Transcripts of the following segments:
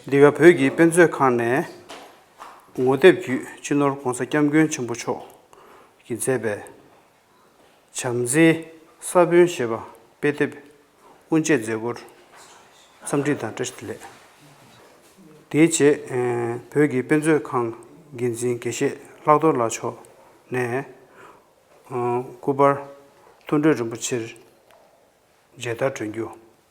འདི་ག་བོད་ཀྱི་དཔེ་མཛོད་ཁང་ནས་ངོ་དེབ་བརྒྱུད་སྤྱི་ནོར ྋགོང་ས ྋསྐྱབས་མགོན་ཆེན་པོ་མཆོག་གིས་མཛད་པའི་བྱམས་བརྩེའི་ས་བོན་ཞེས་པ་དཔེ་དེབ་དབུ་འབྱེད་མཛད་སྒོར་འཚམས་འདྲི་དང་བཀྲ་ལེགས། དེའི་རྗེས་བོད་ཀྱི་དཔེ་མཛོད་ཁང་འགན་འཛིན་དགེ་བཤེས་ལྷག་རྡོར་ལགས་མཆོག་ནས ྋསྐུ་པར་མཐོ་འབྲོག་རིན་པོ་ཆེར་མཇལ་དར་བསྒྲོན་རྒྱུ།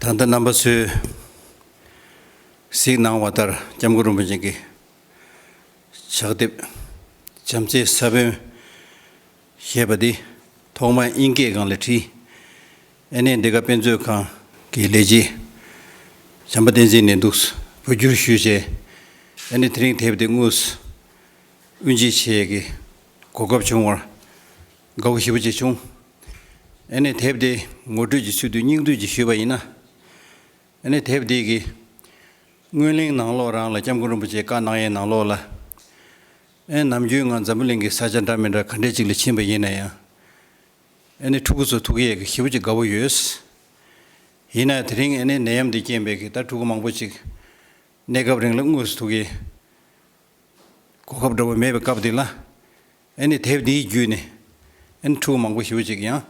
ད་ལྟ་རྣམ་པ་ཚོས་གཟིགས་གནང་བ་ལྟར་སྐྱབས་མགོན་རིན་པོ་ཆེན་གྱི་ཕྱག་དེབ་བྱམས་བརྩེའི་ས་བོན་ཞེས་པ་འདི་ཐོག་མར་དབྱིན་སྐད་སྒང་ལས་བྲིས། ཨེ་ནས་འདི་ག་དཔེ་མཛོད་ཁང་གི་ལས་བྱེད་བྱམས་པ་བསྟན་འཛིན་ནས་འདུག་བོད་བསྒྱུར་ཞུས་བྱས་ཨེ་ནས་དེ་རིང་དེབ་དེ་དངོས་སུ་དབུ་འབྱེད་བྱེད་ཀྱི་གོ་སྐབས་བྱུང་བར་དགའ་བོ་ཞེ་པོ་ཅིག་བྱུང། ཨེ་ནས་དེབ་དེ་ངོ་སྤྲོད་ཀྱི་ཚུལ་དུ་སྙིང་བསྡུས་ཀྱིས་ཞུས་པ་ཡིན་ན། ཨེ་ནས་དེབ་དེ་གི་སྔོན་གླེང་ནང་ལོག་རང་ལ་སྐྱབས་མགོན་རིན་པོ་ཆེ་བཀའ་གནང་ཡས་ནང་ལོག་ལ་ཨེ་ནམ་རྒྱུས་ངང་འཛམ་བུ་གླིང་གི་ས་ཆ་འདྲ་མི་འདྲ་ག་འདྲས་ཅིག་ལ་ཕྱིན་པ་ཡིན་ན་ཡང། ཨེ་ནི་ཕྲུ་གུ་ཚོ་ཐུག་ཡས་ཀྱི་ཤི་བོ་ཅི་དགའ་བོ་ཡོད། ཡིན་ནའི་དེ་རིང་ཨེ་ནི་ནད་ཡམས་འདི་རྐྱེན་པས་ཀྱི་ད་ཕྲུ་གུ་མང་པོ་ཅིག་གནས་སྐབས་རིང་ལ་དངོས་སུ་ཐུག་ཡས་གོ་སྐབས་འདྲ་བོ་མེད་པའི་སྐབས་འདི་ལ་ཨེ་ནི་དེབ་འདིའི་བརྒྱུད་ནས་ཨེ་ནི་ཕྲུ་གུ་མང་པོ་ཤི་བོ་ཅིག་ཡང་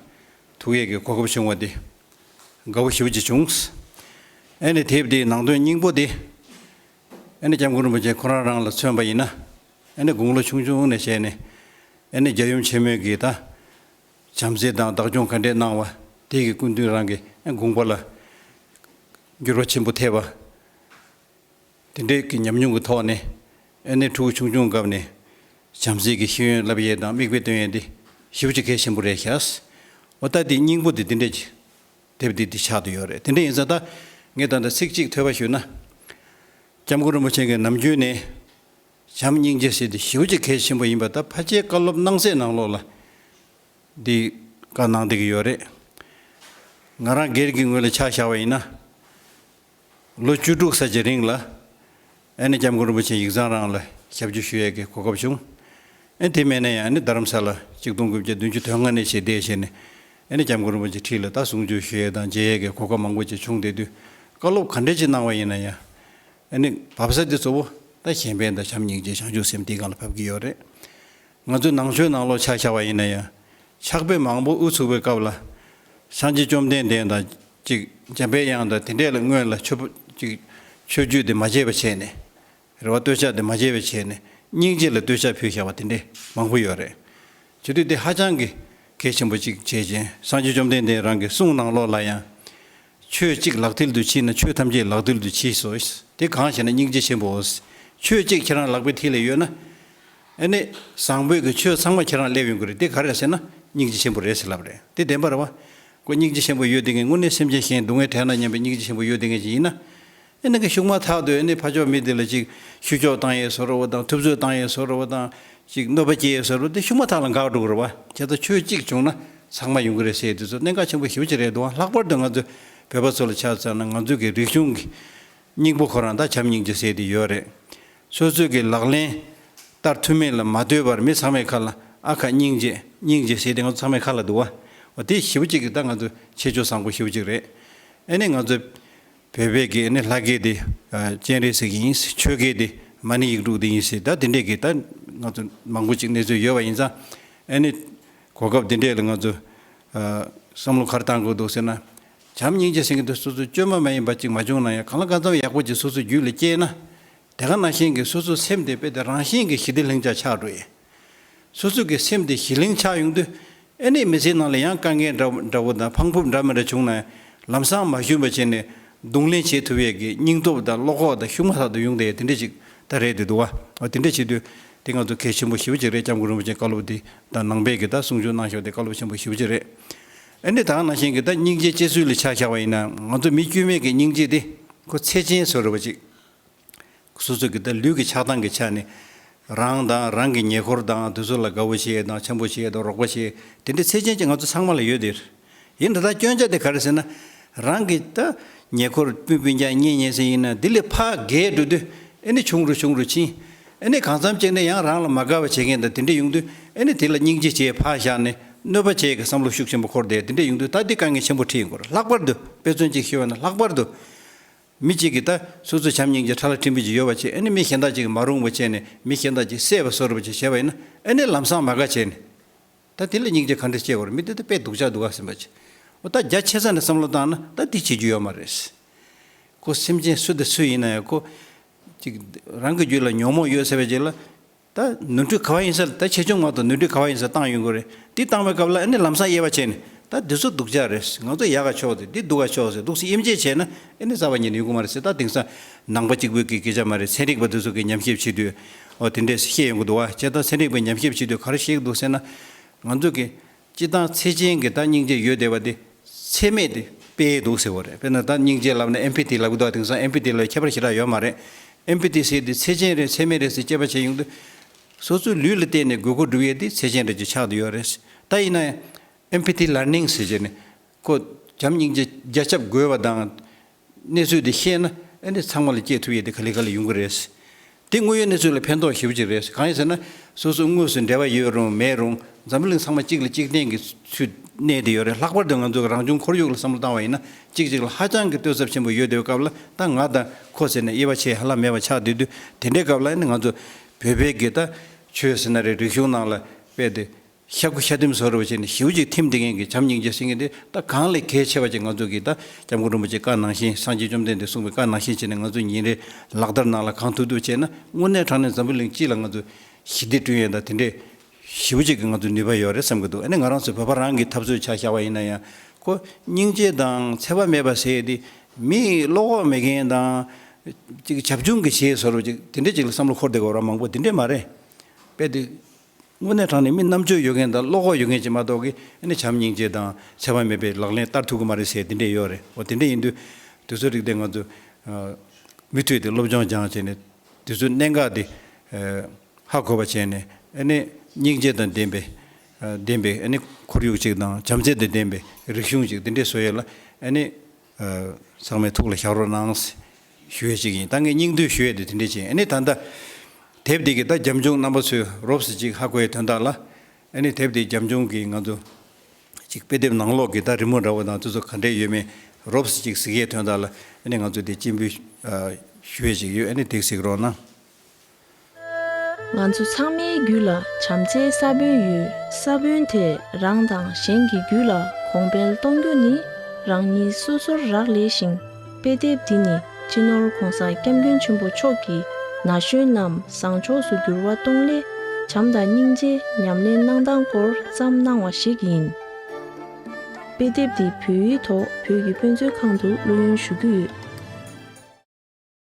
ཐུག་ཡས་ཀྱི་གོ་སྐབས་བྱུང་བ་འདི་དགའ་བོ་ཤི་བོ་ཅི་བྱུང། ཨེ་ནི་དེབ་འདིའི་ནང་དོན་སྙིང་པོ་འདི་ཨེ་ནི་སྐྱབས་མགོན་རིན་པོ་ཆེ་ཁོ་རང་རང་ལ་མཚོན་པ་ཡིན་ན། ཨེ་ནི་དགུང་ལོ་ཆུང་ཆུང་ནས་བྱས་ནས་ཨེ་ནི་རྒྱལ་ཡུམ་ཆེན་མོའི་གིས་དང། བྱམས་བརྩེ་དང་བདག་སྐྱོང་ག་འདྲས་གནང་བ་དེ་གི་སྐུ་མདུན་རང་གི་དགོངས་པ་ལ་འགྱུར་བ་ཆེན་པོ་ཐེབས་པ། དེ་འདྲས་ཀྱི་ཉམས་མྱོང་གི་ཐོག་ནས་ཨེ་ནི་ཕྲུ་གུ་ཆུང་ཆུང་སྐབས་ནས་བྱམས་བརྩེ་གི་ཤེས་ཡོན་བསླབ་ཡས་དང་དམིགས་དཔེ་སྟོན་ཡས་དེ་ཞིབ་ཅིག་གལ་ཆེན་པོ་རེད་ཤག། འོ་ད་དེ་སྙིང་པོ་དེ་དེ་འདྲས་ཀྱི་དེབ་དེ་འདི་ཕྱག་ཏུ་ཡོད་རེད་དེ་འདྲས་ཡིན་ས་ད་ངས་ད་ལྟ་ཚིག་གཅིག་ཐོས་པ་ཞུས་ན། སྐྱབས་མགོན་རིན་པོ་ཆེན་གྱི་ནམ་རྒྱུན་ནས། བྱམས་སྙིང་རྗེ་བྱེད་དེ་ཞི་བ་ཆེ་གལ་ཆེན་པོ་ཡིན་པ་ད་ཕ་ཆའི་བཀའ་སློབ་གནང་སའི་ནང་ལོགས་ལ་འདི་བཀའ་གནང་བསྡད་ཀྱི་ཡོད་རེད། ང་རང་སྒེར་གྱི་ངོས་ལ་ཆ་བཞག་པ་ཡིན་ན། ལོ་བཅུ་དྲུག་ས་ཆ་རིང་ལ་ཨ་ནེ་སྐྱབས་མགོན་རིན་པོ་ཆེ་ཡིག་ཚང་རང་ལ་ཞབས་ཕྱི་ཞུ་ཡས་ཀྱི་གོ་སྐབས་བྱུང། ཨ་དེ་མེད་ན་ཡང་ཨ་ནེ་རྡ་རམ་ས་ལ་གཅིག་སྟོང་དགུ་བརྒྱ་བདུན་ཅུ་དོན་ལྔ་གནས་ཆེད་བསྡད་བྱས་ནས་ཨ་ནེ་སྐྱབས་མགོན་རིན་པོ་ཆེ་ཁྲི་ལ་ད་གཟུང་བྱོས་ཞུ་ཡས་དང་མཇལ་ཡས་ཀྱི་གོ་སྐབས་མང་པོ་ཅིག་བྱུང་བསྡད་དུས་བཀའ་སློབ་ག་འདྲ་ཅིག་གནང་བ་ཡིན་ན་ཡང། ཨ་ནི། བབས་ས་དེ་གཙོ་བོ་ད་གཞན་ཕན་དང་བྱམས་སྙིང་རྗེ་བྱང་ཆུབ་སེམས་དེའི་སྒང་ལ་བབས་ཀྱི་ཡོད་རེད། ང་ཚོས་ནང་ཆོས་ནང་ལོག་ཆགས་ཆགས་པ་ཡིན་ན་ཡང། ཆགས་པས་མང་པོ་ཨུ་ཚུགས་པའི་སྐབས་ལ། བྱང་ཆེ་བཅོམ་ལྡན་འདས་དང་ཅིག་འཇམ་དཔལ་དབྱངས་དང་དེ་འདྲས་ལ་སྔོན་ལ་ཆོས་ཅིག་ཆོས་བརྒྱུད་དེ་མ་བྱས་པ་བྱས་ནས། རེ་བ་སྟོད་ཆགས་དེ་མ་བྱས་པའི་བྱས་ནས་སྙིང་རྗེ་ལ་སྟོད་ཆགས་ཕུལ་བཞག་པ་དེ་འདྲས་མང་པོ་ཡོད་རེད། བྱེད་དུས་དེ་ཧ་ཅང་གི་གལ་ཆེན་པོ་ཅིག་བྱེད་ཅིང་བྱང་ཆེ་བཅོམ་ལྡན་འདས་རང་གི་གསུང་ནང་ལོག་ལ་ཡང། ཆོས་གཅིག་ལག་མཐིལ་དུ་མཆིས་ན་ཆོས་ཐམས་ཅད་ལག་མཐིལ་དུ་མཆིས་སོ། དེ་གང་ཞེ་ན་སྙིང་རྗེ་ཆེན་པོའོ། ཆོས་གཅིག་ཁྱེད་རང་ལག་པའི་མཐིལ་ལས་གཡོས་ན། ཨེ་ནི། བཟང་པོས་ཀྱི་ཆོས་ཚང་མ་ཁྱེད་རང་སླེབས་ཡོང་གི་རེད་དེ་ག་རེད་ཟེར་ན། སྙིང་རྗེ་ཆེན་པོ་རེད་ཟེར་ལབ་རེད་དེ་བདེན་པར་བ། ཀོ་སྙིང་རྗེ་ཆེན་པོ་གཡོས་དེ་ངས་དངོས་གནས་སེམས་ཅན་གཞན་སྡུག་བསྔལ་དྲན་ན་སྙམ་པའི་སྙིང་རྗེ་ཆེན་པོ་གཡོས་དེ་ངས་ཅི་ཡིན་ན། ཨེ་ནི་གི་ཞུགས་མ་ཐག་ཏུ་ཨེ་ནི་ཕ་ཆོག་མི་དེ་ལ་ཅིག་ཤུ་ཆོག་བཏང་ཡས་སོ་ར་བ་དང་ཐུབ་ཚོད་བཏང་ཡས་སོ་ར་བ་དང་ཅིག་གནོད་པ་སྐྱེ་ཡས་སོ་ར་བ་དེ་ཞུགས་མ་ཐག་ལ་འགག་འགྲོ་གི་རེད་བ་དེ་ལྟར་ཆོས་གཅིག་བྱུང་ན་ཚང་མ་ཡོང་གི་རེད་སེ་དེ་ཚོ་གནད་འགག་ཆེན་པོ་ཞིབ་ཅིག་རེད་དུང་ལྷག་པར་དུ་ང་ཚོ་བོད་པ་ཚོ་ལ་ཆ་ཚང་ན་ང་ཚོ་གི་རིག་གཞུང་གི་སྙིང་པོ་ཁོ་རང་ད་བྱམས་སྙིང་རྗེ་སེ་དེ་ཡོད་རེད་ཚོད་ཚོད་གི་ལག་ལེན་བསྟར་ཐུབ་མེད་ལ་མ་ལྟོས་པར་མི་ཚང་མའི་ཁ་ལ་ཨ་ཁ་སྙིང་རྗེ་སྙིང་རྗེ་སེ་དེ་ང་ཚོ་ཚང་མའི་ཁ་ལ་འདུག་བ་བ་དེ་ཞིབ་ཅིག་གི་ད་ང་ཚོ་ཆེ་ཆོས་བཟང་པོ་ཞིབ་ཅིག་རེད་ཨེ་ནི་ང་ཚོ་བོད་པའི་སྒེར་ནི་ལྷ་སྒེར་དེ་སྤྱན་རས་གཟིགས་ཡིན་སྲིད་ཆོས་སྒེར་དེ་མ་ཎི་ཡིག་དྲུག་དེ་ཡིན་སྲིད་ད་དེ་འདྲའི་སྒེར་ད་ང་ཚོ་མང་པོ་ཅིག་གནས་ཚུལ་ཡོད་པ་ཡིན་ཙང་ཨེ་ནི་གོ་སྐབས་དེ་འདྲས་ལ་ང་ཚོ་བསམ་བློ་གར་བཏང་དགོས་འདུག་ཟེར་ན་བྱམས་སྙིང་རྗེ་ཟེར་མཁན་དེ་སོ་སོའི་བཅོས་མ་མ་ཡིན་པ་ཅིག་མ་བྱུང་ན་ཡང་གང་ལ་གང་འཚམ་ཡག་པོ་ཅིག་སོ་སོའི་རྒྱུད་ལ་སྐྱེས་ན་དེ་ག་ནང་བཞིན་གྱི་སོ་སོའི་སེམས་དེ་དཔེ་དེ་རང་བཞིན་གྱི་ཞི་བདེ་ལྷིང་འཇགས་ཆགས་འགྲོ་ཡི། སོ་སོ་གི་སེམས་དེ་ཞི་ལིང་ཆགས་ཡོང་དུས། ཨེ་ནས་མི་ཚེའི་ནང་ལ་ཡང་དཀའ་ངལ་འདྲ་བོ་དང་འཕང་ཕུབ་འདྲ་མི་འདྲ་བྱུང་ན། ལམ་སང་མ་ཞུམ་པར་བྱས་ནས་རྡུང་ལེན་བྱེད་ཐུབ་ཡས་ཀྱི་སྙིང་སྟོབས་དང་བློ་ཁོག་དང་ཤུགས་མ་ལྷག་ཏུ་ཡོང་དེ་ཡས་དེ་འདྲ་ཞིག་ད་རེད་དེ་འདུག་ཨ། དེ་འདྲ་བྱེད་དུས་དེ་ང་ཚོ་གལ་ཆེན་པོ་ཞི་བ་ཅིག་རེད་ལྕམ་སྐུ་རིན་པོ་ཆེ་བཀའ་སློབ་དེ་ད་ནང་པས་ཀྱི་ད་གསུང་ཆོས་གནང་ཞོར་དེ་བཀའ་སློབ་ཆེན་པོ་ཞི་བ་ཅིག་རེད། ཨེ་ནས་ད་ང་ནང་བཞིན་གྱི་ད་སྙིང་རྗེ་བཅས་ཚུལ་ལ་ཆགས་བཞག་པ་ཡིན་ན་ང་ཚོ་མི་དཀྱུས་མས་ཀྱི་སྙིང་རྗེ་དེ་ཁོ་ཚེ་ཅན་བཟོ་རུ་བ་ཅིག། སོ་སོ་གི་ལུས་ཀྱི་ཆགས་སྡང་གི་ཆ་ནི། རང་དང་རང་གི་ཉེ་འཁོར་དང་དུས་ཚོད་ལ་དགའ་བོ་ཞིག་དང་འཆམ་པོ་ཞིག་དང་རོགས་པ་ཞིག་དེ་འདྲའི་ཚེགས་ཆེན་གྱི་ང་ཚོ་ཚང་མ་ལ་ཡོད་དེ། ཡིན་ད་ལྟ་སྐྱོན་ཆ་དེ་ག་རེ་ཟེར་ན། རང་གི་ཉེ་འཁོར་སྤུན་སྤུན་རྒྱག་ཉེ་ཉེ་ཟེར་ཡིན་ན་དེ་ལས་ཕ་རྒས་འགྲོ་དུས་ཨེ་ནི་ཆུང་རུ་ཆུང་རུ་ཕྱིན། ཨེ་ནི་གང་འཚམ་གཅིག་ནས་ཡང་རང་ལ་མ་དགའ་བ་བྱེད་མཁན་དང་དེ་འདྲས་ཡོང་དུས་ཨེ་ནི་དེ་ལ་སྙིང་རྗེ་བྱས་ཕག་བཞག་ནས་གནོད་པ་བྱས་ཀྱི་བསམ་བློ་ཤུགས་ཆེན་པོ་འཁོར་དེ་དེ་འདྲས་ཡོང་དུས་ད་འདི་དཀའ་ངལ་ཆེན་པོ་ཁྲིད་ཡོང་དགོས་རེད་ལྷག་པར་དུ་དཔེ་མཚོན་གཅིག་ཤེས་བ་ན་ལྷག་པར་དུ་མི་གཅིག་གིས་ད་སོ་སོའི་བྱམས་སྙིང་རྗེ་ཕྲ་ལ་ཁྲིམས་འགལ་གྱི་ཡོལ་བ་བྱས་ཨེ་ནི་མི་གཞན་དག་ཅིག་གིས་མ་རུང་བ་བྱས་ནས་མི་གཞན་དག་ཅིག་གསད་པ་གསོད་རུབ་བྱས་བྱས་པ་ཡིན་ན་ཨེ་ནི་ལམ་སང་མ་དགའ་བྱས་ནས། ད་དེ་ལ་སྙིང་རྗེ་ག་འདྲ་སྐྱེ་དགོས་རེད་མི་དེ་ད་དཔེ་སྡུག་ཅག་སྡུག་ག་ཟིན་པ་ཅིག་འོ་ད་རྒྱ་ཆེ་ས་ནས་བསམ་བློ་བཏང་ན་ད་དེ་བྱེད་རྒྱུ་ཡོད་མ་རེད། ཁོ་སེམས་ཅན་སུ་དང་སུ་ཡིན་ན་ཡང་ཁོ། ཅིག་རང་གི་རྒྱུད་ལ་ཉོག་མོག་ཡོད་ཟེར་བ་ཅིག་ལ། ད་ནོར་འཁྲུལ་ག་བ་ཡིན་ས་རེད་ད་ཆེ་ཆུང་མང་དུ་ནོར་འཁྲུལ་ག་བ་ཡིན་ས་བཏང་ཡོད་དགོས་རེད་དེ་བཏང་བའི་སྐབས་ལ་ཨེ་ནི་ལམ་སང་དབྱེ་བ་བྱས་ནས་ད་འདི་ཚོ་སྡུག་ཅག་རེད་ང་ཚོ་ཡག་ག་ཆོག་དེ་འདི་སྡུག་ག་ཆོག་ཟེར་སྡུག་སེ་དབྱེ་འབྱེད་བྱས་ན་ཨེ་ནི་བཟའ་བ་ཉིད་ནས་ཡོད་དགོས་མ་རེད་ཟེར་ད་དེང་སང་ནང་པ་གཅིག་པོས་ཀྱི་སྐད་ཆ་མ་རེད་ཚན་རིག་པ་འདི་ཚོ་གི་ཉམས་ཞིབ་བྱེད་དུས་འོ་དེ་འདྲས་བཤད་ཡོང་གི་འདུག་བ་ཁྱེད་ད་ཚན་རིག་པའི་ཉམས་ཞིབ་བྱེད་དུས་ག་རེ་བཤད་ཀྱི་འདུག་ཟེར་ན་ང་ཚོ་གི་སྤྱི་དང་ཚེ་ཅན་གྱི་བདག་སྙིང་རྗེ་ཡོད་བདེ་བ་དེ་ཚད་མེད་དེ་དཔེ་འདུག་ཟེར་བ་རེད་དཔེར་ན་བདག་སྙིང་རྗེ་ལབ་ན Empathy ལབ་གི་འདུག་དེང་སང Empathy ལོའི་ཁྱད་པར་ཞེ་དྲག་ཡོད་མ་རེད Empathy ཟེར་དེ་ཚེ་ཅན་རེད་ཚད་མེད་རེད་ཟེར་དཔྱད་པ་བྱས་ཡོང་དུས་སོ་སོའི་ལུས་ལ་བལྟས་ནས་དགོས་མཁོ་སྒྲུབ་ཡས་དེ་ཚེ་ཅན་རེད་ཅེས་ཆགས་དུ་ཡོད་རེད་ད་ཡིན་ན Empathy Learning ཟེར་བྱས་ནས་ཁོ་བྱམས་སྙིང་རྗེ་རྒྱ་ཁྱབ་དགོས་བ་དང། གནས་ཚུལ་འདི་ཤེས་ན་ཨ་ནི་ཚང་མ་ལ་སྐྱེས་ཐུབ་ཡས་དེ་ག་ལི་ག་ལ་ཡོང་གི་རེད། དེ་དངོས་ཡོད་གནས་ཚུལ་ལ་ཕན་ཐོགས་ཞིབ་ཅིག་རེད་གང་ཡིན་ཟེར་ན་སོ་སོ་དངོས་སུ་འབྲེལ་བ་ཡོད་རུང་མེད་རུང་འཛམ་བུ་གླིང་ཚང་མ་གཅིག་ལ་གཅིག་བརྟེན་གྱི་ཚུལ་གནས་དེ་ཡོད་རེད་ལྷག་པར་དུ་ང་ཚོ་གི་རང་བྱུང་ཁོར་ཡུག་ལ་བསམ་བློ་བཏང་བ་ཡིན་ན་གཅིག་གཅིག་ལ་ཧ་ཅང་གི་ལྟོས་ཚབས་ཆེན་པོ་ཡོད་དེ་བའི་སྐབས་ལ་ད་ང་དང་ཁོ་ཟེར་ནས་དབྱེ་བ་ཆེ་ཧ་ལམ་མེད་པ་ཆགས་དུས་དུས་དེ་འདྲའི་སྐབས་ལ་ཨ་ནི་ང་ཚོ་བོད་པའི་གི་ད་ཆོས་ཟེར་ན་རེད་རིག་གཞུང་ནང་ལ་དཔེ་དེ་ཤ་སྐུ་ཤ་ཐིམ་སོགས་རེ་བ་བྱས་ནས་ཞེའུ་ཅིག་ཐིམ་དེ་མཁན་གྱི་བྱམས་སྙིང་རྗེ་སེང་གེ་འདི་ད་གང་ལས་གལ་ཆེ་བ་ཅིག་ང་ཚོ་གིས་ད་སྐྱབས་མགོན་རིན་པོ་ཆེ་བཀའ་ནང་བཞིན་སངས་རྒྱས་བཅོམ་ལྡན་འདས་གསུངས་པའི་བཀའ་ནང་བཞིན་བྱས་ནས་ང་ཚོས་ཉིན་རེ་ལག་བསྟར་ནང་ལ་གང་ཐུབ་ཐུབ་བྱས་ན་དངོས་གནས་དྲང་གནས་འཛམ་བུ་གླིང་སྤྱི་ལ་ང་ཚོ་ཞི་བདེ་བསྐྲུན་ཡོད་ད་དེ་འདྲའི་ཞེའུ་ཅིག་གི་ང་ཚོ་ནུས་པ་ཡོད་རེད་བསམ་གྱི་འདུག་ཨ་ནི་ང་རང་ཚོའི་བོད་པ་རང་གིས་འཐབ་རྩོད་བྱ་བཞག་པ་ཡིན་ན་ཡང་ཁོ་སྙིང་རྗེ་དང་འཚེ་བ་མེད་པ་ཟེར་དེ་མི་བློ་ཁོག་མེད་མཁན་དང། ཅིག་བྱབ་ཆུང་གིས་བྱས་ཟེར་བ་ཅིག་དེ་འདྲས་ཅིག་ལ་བསམ་བློ་འཁོར་བསྡད་དགོས་པ་རང་མང་པོ་དེ་འདྲས་མ་རེད་པས་དེ། དངོས་གནས་དྲང་ནས་མི་རྣམ་དཔྱོད་ཡོད་མཁན་དང་བློ་ཁོག་ཡོད་མཁན་ཞིག་མ་གཏོགས་ཀི་ཨ་ནི་བྱམས་སྙིང་རྗེ་དང་ཆད་པ་མེད་པའི་ལག་ལེན་བསྟར་ཐུབ་ཀི་མ་རེད་ཟེར་དེ་འདྲས་ཡོད་རེད་འོ་དེ་འདྲས་ཡིན་དུས་དུས་ཚོད་རིག་དེ་ང་ཚོས་མི་ཐུད་དེ་སློབ་སྦྱོང་སྦྱང་བྱས་ནས་དུས་ཚོད་གནད་འགག་དེ་ཧ་གོ་བ་བྱས་ནས་ཨ་ནི་སྙིང་རྗེ་དང་ལྡན་པའི་ལྡན་པའི་ཨ་ནི་ཁོར་ཡུག་ཅིག་དང་བྱམས་བརྩེ་དང་ལྡན་པའི་རིག་གཞུང་ཅིག་དེ་འདྲས་བཟོ་ཡས་ལ་ཨ་ནི། ཚང་མས་ཐུགས་ལ་ཞགས་རོགས་གནང། ཞུ་ཡས་ཅིག་ཡིན་ད་ངས་སྙིང་བསྡུས་ཞུ་ཡས་དེ་དེ་འདྲས་བྱས་ཨཱ་ནི་ད་ལྟ། དེབ་འདི་གི་ད་རྒྱབ་འབྱུང་རྣམ་པ་ཚོས་རོབ་སི་ཅིག་ཧ་གོ་ཡས་དོན་དག་ལ། ཨཱ་ནི་དེབ་འདི་རྒྱབ་འབྱུང་གི་ང་ཚོ། ཅིག་དཔེ་དེབ་ནང་ལོག་གི་ད་རི་མོ་འདྲ་བོ་དང་དེ་ཚོ་ག་འདྲས་ཡོད་མེད་རོབ་སི་ཅིག་གཟིགས་ཡས་དོན་དག་ལ་ཨཱ་ནི་ང་ཚོ་དེ་སྤྱི་འབུལ། ཞུ་ཡས་ཅིག་ཡོད་ཨཱ་ནི་དེ་གཟིགས་རོགས་གནང། ང་ཚོ་ཚང་མའི་རྒྱུད་ལ་བྱམས་བརྩེའི་ས་བོན་ཡོད། ས་བོན་དེས་རང་དང་གཞན་གྱི་རྒྱུད་ལ་གོང་འཕེལ་གཏོང་རྒྱུ་ནི་རང་ཉིད་སོ་སོར་རག་ལས་ཤིང་དཔེ་དེབ་འདི་ནི་སྤྱི་ནོར ྋགོང་ས ྋསྐྱབས་མགོན་ཆེན་པོ་མཆོག་གིས་ན་གཞོན་རྣམས་བཟང་ཕྱོགས་སུ་འགྱུར་བ་གཏོང་སླད་བྱམས་དང་སྙིང་རྗེ་ཉམས་ལེན་གནང་སྟངས་སྐོར་བརྩམས་གནང་བ་ཞིག་ཡིན། དཔེ་དེབ་འདི་བོད་ཡིག་ཐོག་བོད་ཀྱི་དཔེ་མཛོད་ཁང་དུ་བླུ་ཡོན་ཞུ་རྒྱུ་ཡོད།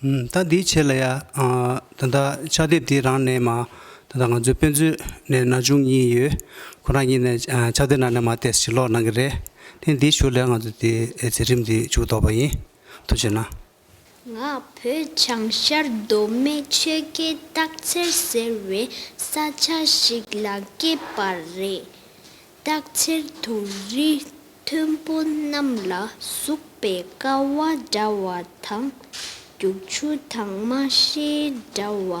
ད་འདིའི་ཆེད་ལ་ཡང་ད་ལྟ་ཕྱག་དེབ་འདི་རང་ནས་མ་ད་ང་ཚོའི་དཔེ་མཛོད་ནས་ན་ཆུང་གཉིས་ཡོད་ཁོ་རང་གཉིས་ནས་ཕྱག་དེབ་ནང་ནས་མ་བལྟས་ཕྱིར་ལོག་གནང་གི་རེད་དེ་འདི་བཞུགས་ལས་ང་ཚོ་དེ་རྩེ་ཁྲིམས་འདི་འཇུག་དོགས་པ་ཡིན་ཐུགས་ཆེ་ན། ང་བོད་བྱང་ཤར་མདོ་སྨད་ཆོལ་ཁའི་སྟག་འཚེར་ཟེར་བའི་ས་ཆ་ཞིག་ལ་སྐྱེས་པ་རེད། རྟགས་ཆེར་དུ་རི་མཐོན་པོ་རྣམས་ལ་ཟུག་པའི་ཀ་བ་འདྲ་བ་དང་རྒྱུག་ཆུ་དྭངས་མ་ཤེལ་འདྲ་བ་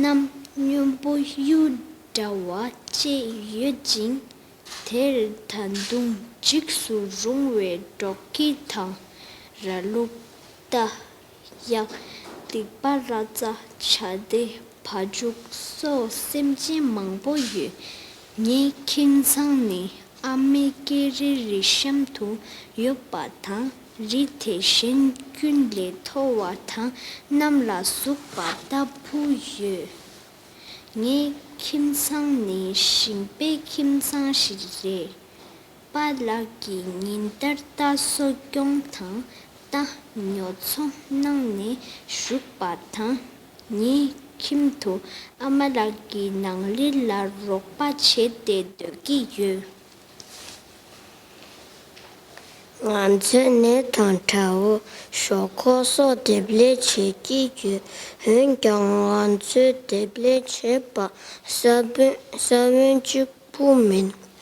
རྣམས་སྨྱོན་པོ་གཡུ་འདྲ་བ་བཅས་ཡོད་ཅིང། དེར་ད་དུང་འཇིགས་སུ་རུང་བའི་སྒྲོག་གི་དང་ར་ལུག་རྟ། ཡང་སྡིག་པ་ར་རྩ་བྱ་སྡེ་བ་འཇུག་སོགས་སེམས་ཅན་མང་པོ་ཡོད། ངའི་ཁྱིམ་ཚང་ནི་ཨ་མའི་སྐྱེ་རི་རི་གཤམ་དུ་ཡོད་པ་དང་རི་དེ་གཞན་ཀུན་ལས་མཐོ་བ་དང་གནམ་ལ་ཟུག་པ་ལྟ་བུ་ཡོད། ངའི་ཁྱིམ་ཚང་ནི་ཞིང་པའི་ཁྱིམ་ཚང་ཞིག་རེད། པ་ལགས་ཀྱིས་ཉིན་ལྟར་རྟ་གསོ་སྐྱོང་དང་རྟ་ཉོ་ཚོང་གནང་ནས་བཞུགས་པ་དང། ཉིན་ཁྱིམ་དུ་ཨ་མ་ལགས་ཀྱི་ནང་ལས་ལ་རོགས་པ་བྱས་ཏེ་སྡོད་ཀྱི་ཡོད། ང་ཚོས་ནས་ཐང་ཁྲ་བོ་ཞོག་ཁོག་སོགས་འདེབས་ལས་བྱེད་ཀྱི་ཡོད། འོན་ཀྱང་ང་ཚོས་འདེབས་ལས་བྱེད་པ་ས་བོན་གཅིག་པུ་མིན།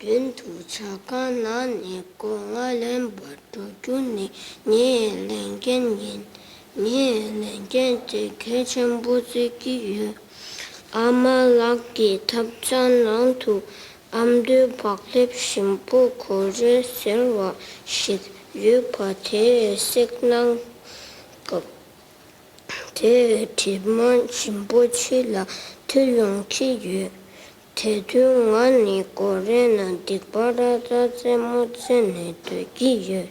རྒྱུན་དུ་བྱ་དགའ་ན་ནི་སྒོ་ང་ལེན་པར་འགྲོ་རྒྱུ་ནི་ངའི་ལས་འགན་ཡིན། ངས་ལས་འགན་དེ་གལ་ཆེན་པོ་རྩི་གི་ཡོད། ཨ་མ་ལགས་ཀྱི་ཐབ་ཆའི་ནང་དུ་ཨ་མདོའི་བག་ལེབ་ཞིམ་པོ་གོ་རེ་ཟེར་བ་ཞིག་ཡོད་པ་དེ་བསྲེགས་གནང་སྐབས། དེ་བས་གྲིབ་མ་འབྱིན་པོ་ཕྱི་ལ་ཐོན་ཡོང་གི་ཡོད། དེ་དུས་ང་ནི་ཀོ་རེ་ན་སྡིག་པ་ར་རྩ་རྩེད་མོ་རྩེད་ནས་སྡོད་ཀྱི་ཡོད།